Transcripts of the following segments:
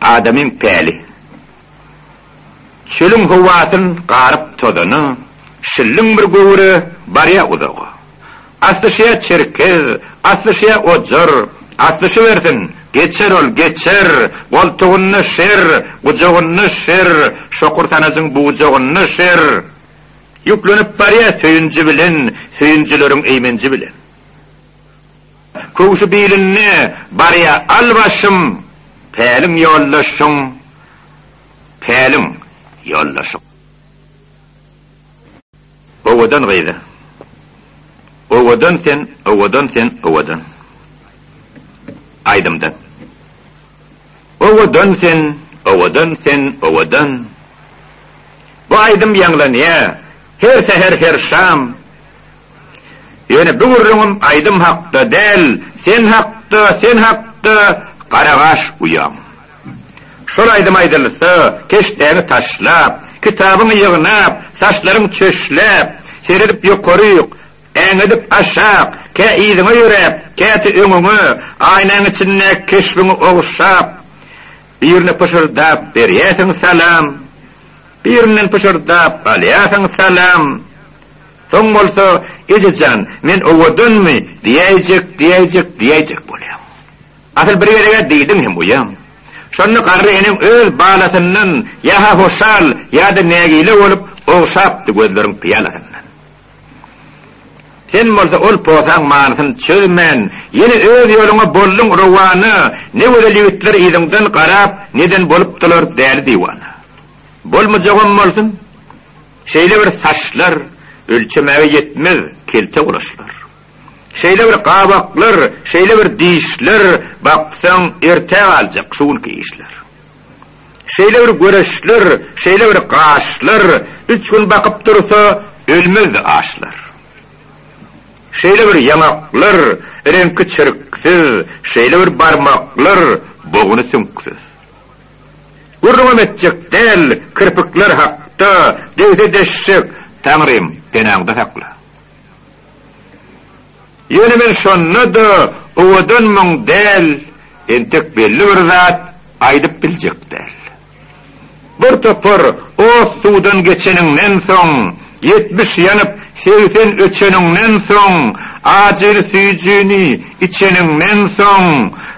Adamyň päli. Çölüň howasyn garyp tozany, şilliň bir göwre barýa uzaga. Aslyşýa çerkez, aslyşýa ojar, aslyşybersin, geçer ol, geçer, goltugynda şer, gujagynda şer, şokur sanajyň bujagynda şer. Ýüklenip barýa söýünji bilen, söýünjileriň eýmenji bilen. Köwşi bilinde barýa al başym, Päliň ýoldaşyň, päliň ýoldaşyň. Owadan gyz-a, owadan sen, owadan sen, owadan. Aýdymdan. Owadan sen, owadan sen, owadan. Bu aýdym ýaňlanýa, her säher, her şam, Ýöne bu gürrüňim aýdym hakda däl, sen hakda, sen hakda, garagaş uýam. Şol aýdym aýdylsa, keşdäňi taşlap, kitabyňy ýygnap, saçlaryň çöşläp, seredip ýokaryk, äňedip aşak, kä yzyňa ýöräp, käte öňüňe, aýnaň içindäki keşbiňi ogşap, birine pyşyrdap berýärsiň salam, birinden pyşyrdap alýarsyň salam, Soň bolsa, Eje jan, men owadanmy? diýäýjek, diýäýjek, diýäýjek bolýaň. Asyl bir gezeg-ä diýdiň hem goýaň. Şonda garry eneň öz balasyndan ýa-ha hoşal, ýa-da nägile bolup, ogşapdy gözleriň pyýalasyndan. Sen bolsa ol posaň manysyny çözmän, ýene öz ýoluňa bolduň rowana, ne gözel ýigitler yzyňdan garap, neden bolupdylar däli-diwana. Bolmajagam bolsun. Şeýle bir saçlar ölçemäge ýetmez kelte gulaçlar. Şeýle bir gabaklar, şeýle bir dişler, baksaň ertä galjak şu günki işler. Şeýle bir göreçler, şeýle bir gaşlar, üç gün bakyp dursa ölmezdi aşlar. Şeýle bir ýaňaklar, reňki çirksiz, şeýle bir barmaklar, boguny süňksüz. Gürrüňem etjek däl kirpikler hakda degse deşjek Taňrym penaňda sakla. Ýöne men şonda-da owadanmyň däl entek belli bir zat aýdyp biljek däl. Bir topar ot-suwdan geçeniňden soň Ýetmiş ýanyp, segsen öçeniňden soň, ajyl süýjini içeniňden soň,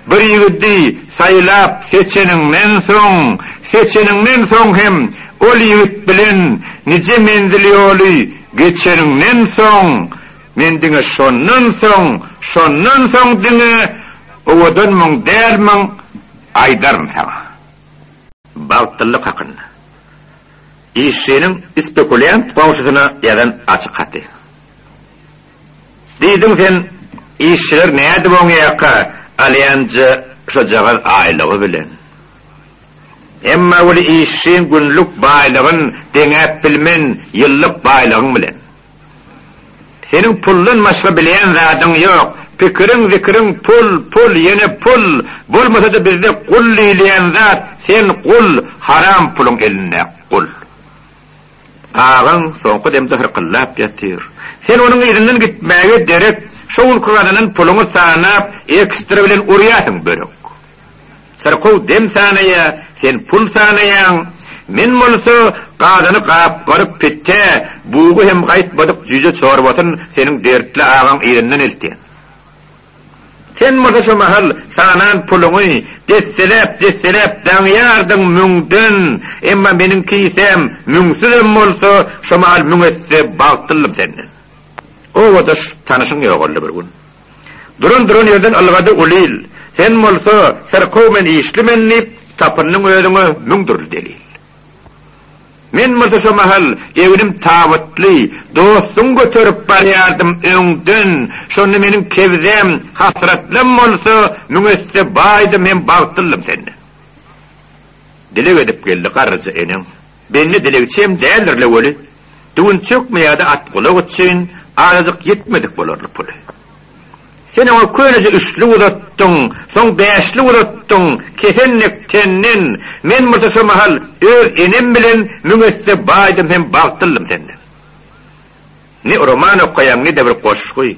bir ýigidi saýlap seçeniňden soň, seçeniňden soň hem ol ýigit bilen nije menzil ýoly geçeniňden soň, men diňe şondan soň, şondan soň diňe owadanmyň, dälmiň aýdaryn saňa. Bagtlylyk hakynda. Işçiniň spekuliant goňşusyna ýazan açyk haty. Diýdiň sen, işçiler nädip oň ýaka alýanja şojagaz aýlygy bilen. Emma weli işçiň günlük baýlygyn deňäp bilmen ýyllyk baýlygyň bilen. Seniň puldan başga bilýän zadyň ýok. Pikiriň zikiriň pul, pul, ýene pul. Bolmasa-da bizde gul diýilýän zat, sen gul, haram puluň elinde, gul. Agaň soňky demde hyrkyldap ýatyr. Sen onuň yzyndan gitmäge derek, şo günki gazanan puluňy sanap, ekstra bilen urýarsyň börek. Syrkaw dem sanaýa, sen pul sanaýaň. Men bolsa gazany gap-garyk pitde, bugy hem gaýtmadyk jüýje çorbasyn seniň dertli agaň elinden eltýän. Sen bolsa şu mahal sanan puluňy desseläp-desseläp daňýardyň müňden, emma meniň kisäm müňsüzem bolsa, şu mahal müň esse bagtlyldym senden. Obadaş tanyşyň ýogaldy bir gün. Duran-duran ýerden ylgady Ulil. Sen bolsa, Syrkaw men işli men diýip, tapyndyň özüňe müň dürli delil. Men bolsa şo mahal egnim tabytly, dostuň göterip barýardym öňden, şonda meniň kebzäm, hasratlam bolsa, müň esse baýdym hem bagtlyldym senden. Dileg edip geldi garryja eneň, Bendi dilegçem däldir-le weli, düwünçekmi ýa-da atgulak üçin azajyk ýetmedik bolarly puly. Sen oňa köneje üçlük uzatdyň, soň bäşlik uzatdyň, kesenek senden, men bolsa şo mahal öz enem bilen müň esse baýdym hem bagtlyldym senden. Ne roman okaýaň, ne-de bir goşgy.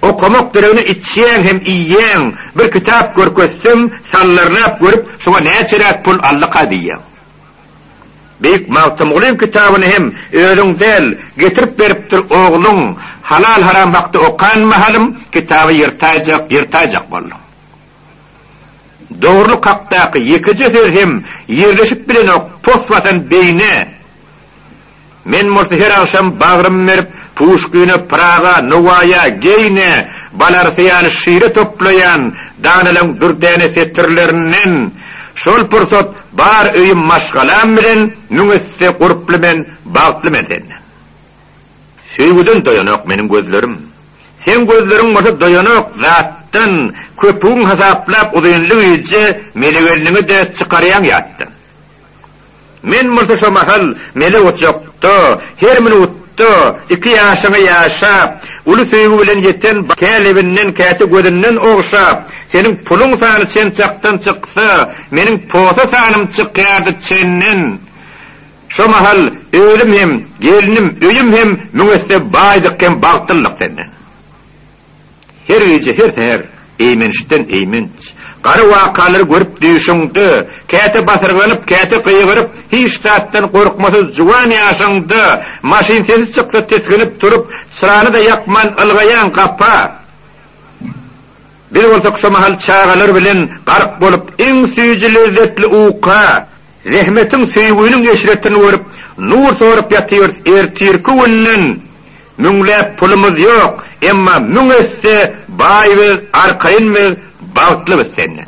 Okamak deregine içýäň hem iýýäň, bir kitap görkezsem, sallarlap görüp, şoňa näçeräk pul allaka diýýäň. Beýik Magtymgulyň kitabyny hem özüň däl, getirip beripdir ogluň, halal-haram hakda okan mahalym, kitaby ýyrtaýjak, ýyrtaýjak bolduň. Dogrulyk hakdaky ýekeje söz hem ýerleşip bilenok pos basan beýne. Men bolsa her agşam bagrym berip, Puşkine, Pyraga, Nowaýa, Geýne, Balarsa ýaly şire toplaýan danalyň dürdäne setirlerinden, Şol pursat bar öýüm maşgalam bilen müň esse gurply men, bagtly men senden. Söýgüden doýanok meniň gözlerim. Seň gözleriň bolsa doýanok zatdan, Köpügiň hasaplap uzynly gije meni-gelniňi-de çykarýaň ýatdan. Men bolsa şo mahal mele otjakda, her minutda iki ýaşyňy ýaşap, uly söýgi bilen ýeten kä lebinden, käte gözünden ogşap, seniň puluň sany çen çakdan çyksa, meniň posa sanym çykýardy çenden. Şo mahal özüm hem, gelnim, öýüm hem müň esse baýdyk hem bagtlydyk senden. Her gije, her säher eýmençden eýmenç, gara wakalary görüp düýşüňde, käte basyrganyp, käte gygyryp, hiç zatdan gorkmasyz juwan ýaşyňda, maşyn sesi çyksa tisginip turup, çyrany-da ýakman ylgaýaň gapa. Biz bolsak şo mahal çagalar bilen gark bolup, iň süýji-lezzetli uka, Zähmetiň, söýgüniň eşretini görüp, nur sorup ýatyrys, ertirki günden müňläp pulumyz ýok, emma müň esse baý biz, arkaýyn biz, bagtly biz senden.